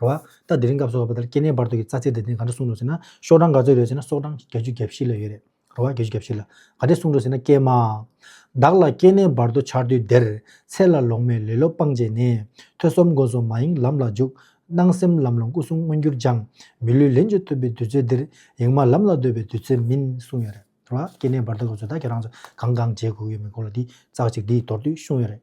ར་བ། ད་དེ་རིང་སྐབས་སུ་བ་ལྟར་སྐྱེ་གནས་བར་དོ་གི་རྩ་ཚིག་དེ་དེ་ག་འདྲ་གསུངས་འདུག་ཟེར་ན་ཤོག་གྲངས་ག་ཚོད་ཡོད་ཟེར་ན་སོག་གྲངས་བརྒྱད་ཅུ་གྱ་བཞི་ལ་ཡོད་རེད། ར་བ། བརྒྱད་ཅུ་གྱ་བཞི་ལ། ག་འདྲས་གསུངས་འདུག་ཟེར་ན་ཀྱེ་མ། བདག་ལ་སྐྱེ་གནས་བར་དོ་འཆར་དུས་དེར། ཚེ་ལ་ལོང་མེད་ལེ་ལོ་སྤངས་བྱས་ནས། ཐོས་བསམ་སྒོ་སྲུང་མ་ཡེངས་ལམ་ལ་འཇུག། སྣང་སེམས་ལམ་ལོང་སྐུ་གསུམ་མངོན་གྱུར་སྦྱང། མི་ལུས་ལེན་སྤྱོད་ཐུབ་པའི་དུས་ཚོད་འདིར། ཡེངས་མ་ལམ་ལ་སྡོད་པའི་དུས་ཚོད་མིན། གསུངས་ཡོད་རེད། ར་བ། སྐྱེ་གནས་བར་དོ་ག་ཚོད་ད་ཁྱེད་རང་ཚོ་གང་གང་བྱས་དགོས་ཀྱི་མིན་སྐོར་ལ་འདི་ཙག་ཅིག་འདིའི་མདོར་བསྡུས་གསུངས་ཡོད་རེད།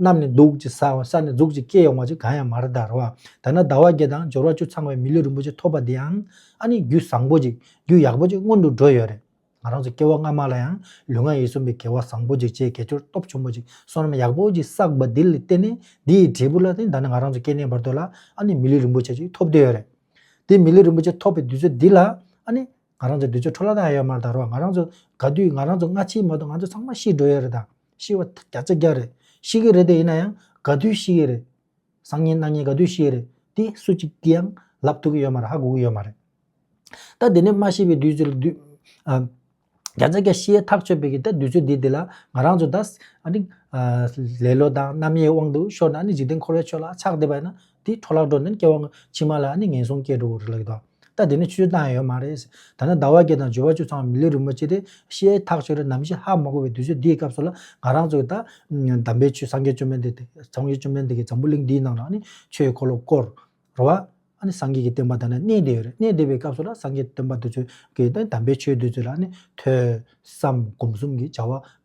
རྣམས་ནི་གདུགས་ཀྱི་ས་བོན་ས་ནས་གཟུགས་ཀྱི་སྐད་ཡོང་བ་ཅིག་གང་ཡང་མར་དར་བ། དར་ན་ཟླ་བ་བརྒྱད་དང་སྦྱོར་བ་བཅུ་ཚང་བའི་མི་ལུས་རིན་པོ་ཆེ་ཐོབ་པ་འདིའང་ཨ་ནི་རྒྱུད་བཟང་པོ་ཅིག་རྒྱུད་ཡག་པོ་ཅིག་སྔོན་དུ་འགྲོ་ཡོད་རེད། ང་རང་ཚོ་སྐྱེ་བ་སྔ་མ་ལ་ཡང་ལུས་ངག་ཡིད་གསུམ་པའི་དགེ་བ་བཟང་པོ་ཅིག་བྱས་གལ་སྐྱོར་སྟོབས་ཆེན་པོ་ཅིག་བསོད་ནམས་ཡག་པོ་ཅིག་བསགས་པ་འདི་ལ་བརྟེན་ནས་འདི་ཡི་འབྲས་བུ་ལ་བརྟེན་ད་ནི་ང་རང་ཚོ་སྐྱེ་གནས་བར་དོ་ལ་ཨ་ནི་མི་ལུས་རིན་པོ་ཆེ་ཅིག་ཐོབ་འདོད་ཡོད་རེད། དེ་མི་ལུས་རིན་པོ་ཆེ་ཐོབ་པའི་དུས་ཚོད་འདི་ལ་ཨ་ནི། ང་རང་ཚོའི་དུས་ཚོད་འཕྲོ་བརླག་དང་ཡ་ཡོད་མར་དར་བ་ང་རང་ཚོ་དགའ་དུས་ང་རང་ཚོ་སྔ་ཕྱིའི་མ་གཏོགས་ང་ཚོ་ཚང་མ་ཤི་འགྲོ་ཡ་རེད་དང་ཤི་བ་བརྒྱ་རྩ་བརྒྱ་རེད་ཤི་གི་རེད་དེ་ཡིན་ན་ཡང་དགའ་དུས་ཤི་ཡི་རེད། བཟང་ཉིན་སྣང་ཉིན་དགའ་དུས་ཤི་ཡི་རེད་དེ་སུ་གཅིག་གིས་ཡང་ལབ་ཐུབ་གི་ཡོད་མ་རེད་ཧ་གོ་གི་ཡོད་མ་རེད། ད་དེ་ནས་སྨྲ་ཤེས་པའི་དུས་ཚོད་ལ་དུས། བརྒྱ་རྩ་བརྒྱ་ཤི་ཡའི་ཐག་ཆོད་པའི་གི་ད་དུས་ཚོད་འདི་དེ་ལ་ང་རང་ཚོ་ད། ལེ་ལོ་དང་རྣམ་དབྱེའི་དབང་དུ་ཤོར་ན་ནི་འཇིག་རྟེན་འཁོར་བའི་ཆོས་ལ་ཆགས་བསྡད་པ་ཡིན་ན། དེ་འཕྲོ་བརླག་འགྲོ་ནས་སྐྱེ་བ་ཕྱི་མ་ལ་ནི་ངན་སོང་སྐྱེ་འགྲོ་བ་རུ་ལེགས་དོ། ད་དེ་ནི་ཆུའི་གཏམ་ཡང་ཡོད་མ་རེད། ད་ནི་ཟླ་བ་བརྒྱད་དང་བཅུ་བ་བཅུ་ཚང་བ་མི་ལུས་རིན་པོ་ཆེ་དེ་ཤེས་ཐག་ཆོད་རེད་ནམ་ཞེས་ཧ་མ་གོ་བའི་དུས་ཚོད་འདིའི་སྐབས་སུ་ལ་ང་རང་ཚོ་གིས་ད། དམ་པའི་ཆོས་སངས་རྒྱས་བཅོམ་ལྡན་འདས་དེ་སངས་རྒྱས་བཅོམ་ལྡན་འདས་ཀྱིས་འཛམ་བུ་གླིང་འདིའི་ནང་ལ་ནི་ཆོས་འཁོར་ལོ་བསྐོར་བ། སངས་རྒྱས་ཀྱི་བསྟན་པ་དང་ནི་གནས་བདེ་བ་རེད་གནས་བདེ་བའི་སྐབས་སུ་ལ་སངས་རྒྱས་བསྟན་པ་དུ་ཚོད་ཀྱིས་དེ་དམ་པའི་ཆོས་དུ་ཚོད་ལ་ནི་ཐོས་བསམ་སྒོམ་གསུམ་གྱི་བྱ་བ་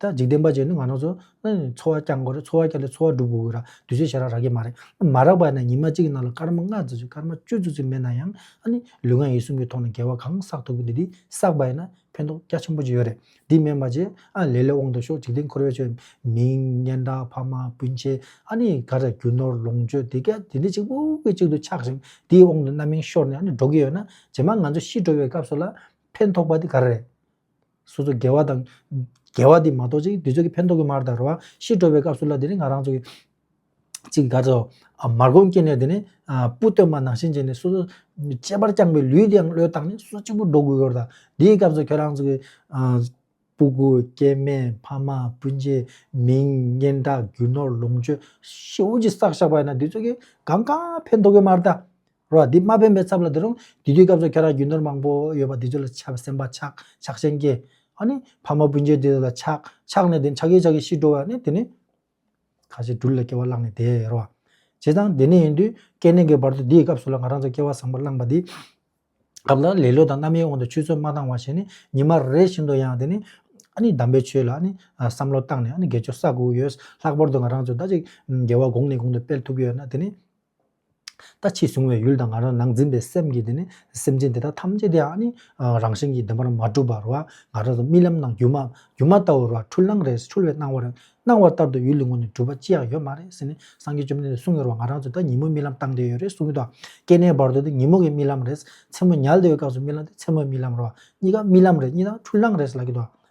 ད་འཇིག་རྟེན་པ་ཅན་ནི་ང་རང་ཚོ། འཚོ་བ་བསྐྱལ་དགོས་རེད་འཚོ་བ་བསྐྱལ་ཏེ་འཚོ་བ་སྒྲུབ་དགོས་རེད། དུས་ཚོད་ཞེ་རགས་རག་གི་མ་རེད། མ་རག་པ་ནས་ཉི་མ་གཅིག་གི་ནང་ལ་སྐར་མ་ལྔ་བརྩི་ཆོག་སྐར་མ་བཅུ་བརྩི་ཚུལ་མེད་ན་ཡང། ལུས་ངག་ཡིད་གསུམ་གྱི་ཐོག་ནས་འགལ་བ་གང་བསགས་ཐུབ་ཀྱི་འདུག་འདི་བསགས་པ་ཡིན་ན་ཕན་ཐོགས་རྒྱ་ཆེན་པོ་ཅིག་ཡོད་རེད། འདི་སྨན་པ་རྗེ། ལས་ལས་དབང་དུ་ཤོག་འཇིག་རྟེན་འཁོར་བའི་ཆོས། མིང། སྙན་གྲགས་ཕ་མ་སྤུན་མཆེད། ག་རེ་རྒྱུ་ནོར་ལོངས་སྤྱོད་དེ་ག་དེ་འདི་གཅིག་པུ་གི་གཅིག་ཏུ་ཆགས་ཤིང་དེའི་དབང་དུ་རྣམ་སྨིན་ཤོར་ནས་འགྲོ་གི་ཡོད་ན། རྗེས་མ་ང་ཚོ་ཤི་འགྲོ་བའི་སྐབས་སུ་ལ། ཕན་ཐོགས་པ་དེ་ག་རེ་རེད། སོ་སོ་དགེ་བ་དང། དགེ་བ་འདི་མ་གཏོགས་ཅིག་དུས་ཚོད་ཀྱི་ཕན་ཐོགས་ཀྱི་མར་དར་བ། ཤི་འགྲོ་བའི་སྐབས་སུ་ལ་དེ་ནི་ང་རང་ཚོ། ཅིག་དགའ་ཚོ། མར་སྒོམ་སྐྱེས་ནས་དེ་ནི། སྤུ་སྟོད་མ་ནང་བཞིན་བྱས་ནས་སོ་སོ། གཅེས་པར་བསྐྱངས་པའི་ལུས་དེའང་བློས་བཏང་ནས་སོ་སོ་གཅིག་པུར་འགྲོ་དགོས་ཀྱི་རེད་ད། དེའི་སྐབས་སུ་ཁྱོད་རང་ཚོ། སྤུ་གུ། སྐྱེས་དམན། ཕ་མ། སྤུན་མཆེད། མིང། སྙན་གྲགས། རྒྱུ་ནོར། ལོངས་སྤྱོད། ཤི་བོ་ཅི་བསགས་བཞག་པ་ཡིན་ན་དུས་ཚོད་ཀྱི་གང་ག་ཕན་ཐོགས་ཀྱི་མར་ད། རོ་ཨ་འདི་མ་ཕན་པའི་ཚབ་ལ་འདི་རུང་དེ་དུས་སྐབས་སུ་ཁྱོད་རང་རྒྱུ་ནོར་མང་པོ་ཡོད་པ་འདི་ཚོ་ལ་ཆབ་སེམས་པ་ཆག་ཆག་ཆེན་སྐྱེ་ཨ་ནི་ཕ་མ་སྤུན་མཆེད་དེ་ཚོ་ལ་ཆག་ཆག་ནས་དེ་ཆག་གི་ཆག་གི་ཤི་འགྲོ་བ་ནི་དེ་ནི། ཁ་ཞེ་དྲུག་ལ་སྐྱེ་བ་བླངས་ནས་དེ་རོ་ཨ། བྱས་ཙང་དེ་ནས་ཡིན་དུས་སྐལ་ལྡན་གྱི་བར་དུ་འདིའི་སྐབས་སུ་ལ་ང་རང་ཚོ་སྐྱེ་བ་བཟང་པོ་བླངས་པ་འདི། སྐབས་ལ་ལེ་ལོ་དང་རྣམ་གཡེང་འོག་ཏུ་ཆུད་ཟོས་མ་བཏང་བ་ཞིག་ནི་ཉི་མ་རེ་བཞིན་དུ་ཡང་དེ་ནི། ཨ་ནི་གདམས་པའི་ཆོས་ལ་ཨ་ནི་བསམ་བློ་བཏང་ནས་ཨ་ནི་དགེ་སྦྱོར་ས་དགུ་ཡོད་ལྷག་པར་དུ་ང་རང་ཚོ་ད་ཅིག་དགེ་བ་གོང་ནས་གོང་དུ་སྤེལ་ཐུབ་ཀྱི་ཡོད་ན་དེ་ནི། ལྟ་ཕྱིས་བཟུང་བའི་ཡུལ་དང་ང་རང་ནང་འཛིན་པའི་སེམས་ཀྱིས་དེ་ནི་སེམས་ཅན་དེ་དག་ཐམས་ཅད་དེའང་ནི་རང་བཞིན་གྱིས་བདེན་པར་མ་གྲུབ་པར་བ་ང་རང་རྨི་ལམ་ནང་སྒྱུ་མ་སྒྱུ་མ་ལྟ་བུར་བ་འཁྲུལ་སྣང་རེས་འཁྲུལ་བའི་སྣང་བར་སྣང་བ་ལྟར་དུ་ཡུལ་ལུས་ངོ་ནས་གྲུབ་པ་ཅི་ཡང་ཡོད་མ་རེད་ཟེར་ནས་སངས་རྒྱས་བཅོམ་ལྡན་འདས་གསུང་ཡོད་རེད་བ་ང་རང་ཚོ་ད་ཉིན་མོ་རྨི་ལམ་བཏང་བསྡད་ཡོད་རེད་གསུང་གི་འདུག་སྐྱེ་གནས་བར་དོ་དེ་ཉིན་མོ་གི་རྨི་ལམ་རེད་མཚན་མོ་ཉལ་བསྡད་ཡོད་སྐབས་སུ་རྨི་ལམ་དེ་མཚན་མོའི་རྨི་ལམ་རེད་བ་གཉིས་ཀ་རྨི་ལམ་རེད་གཉིས་དང་འཁྲུལ་སྣང་རེད་ཟེར་ལབ་ཀྱི་འདུག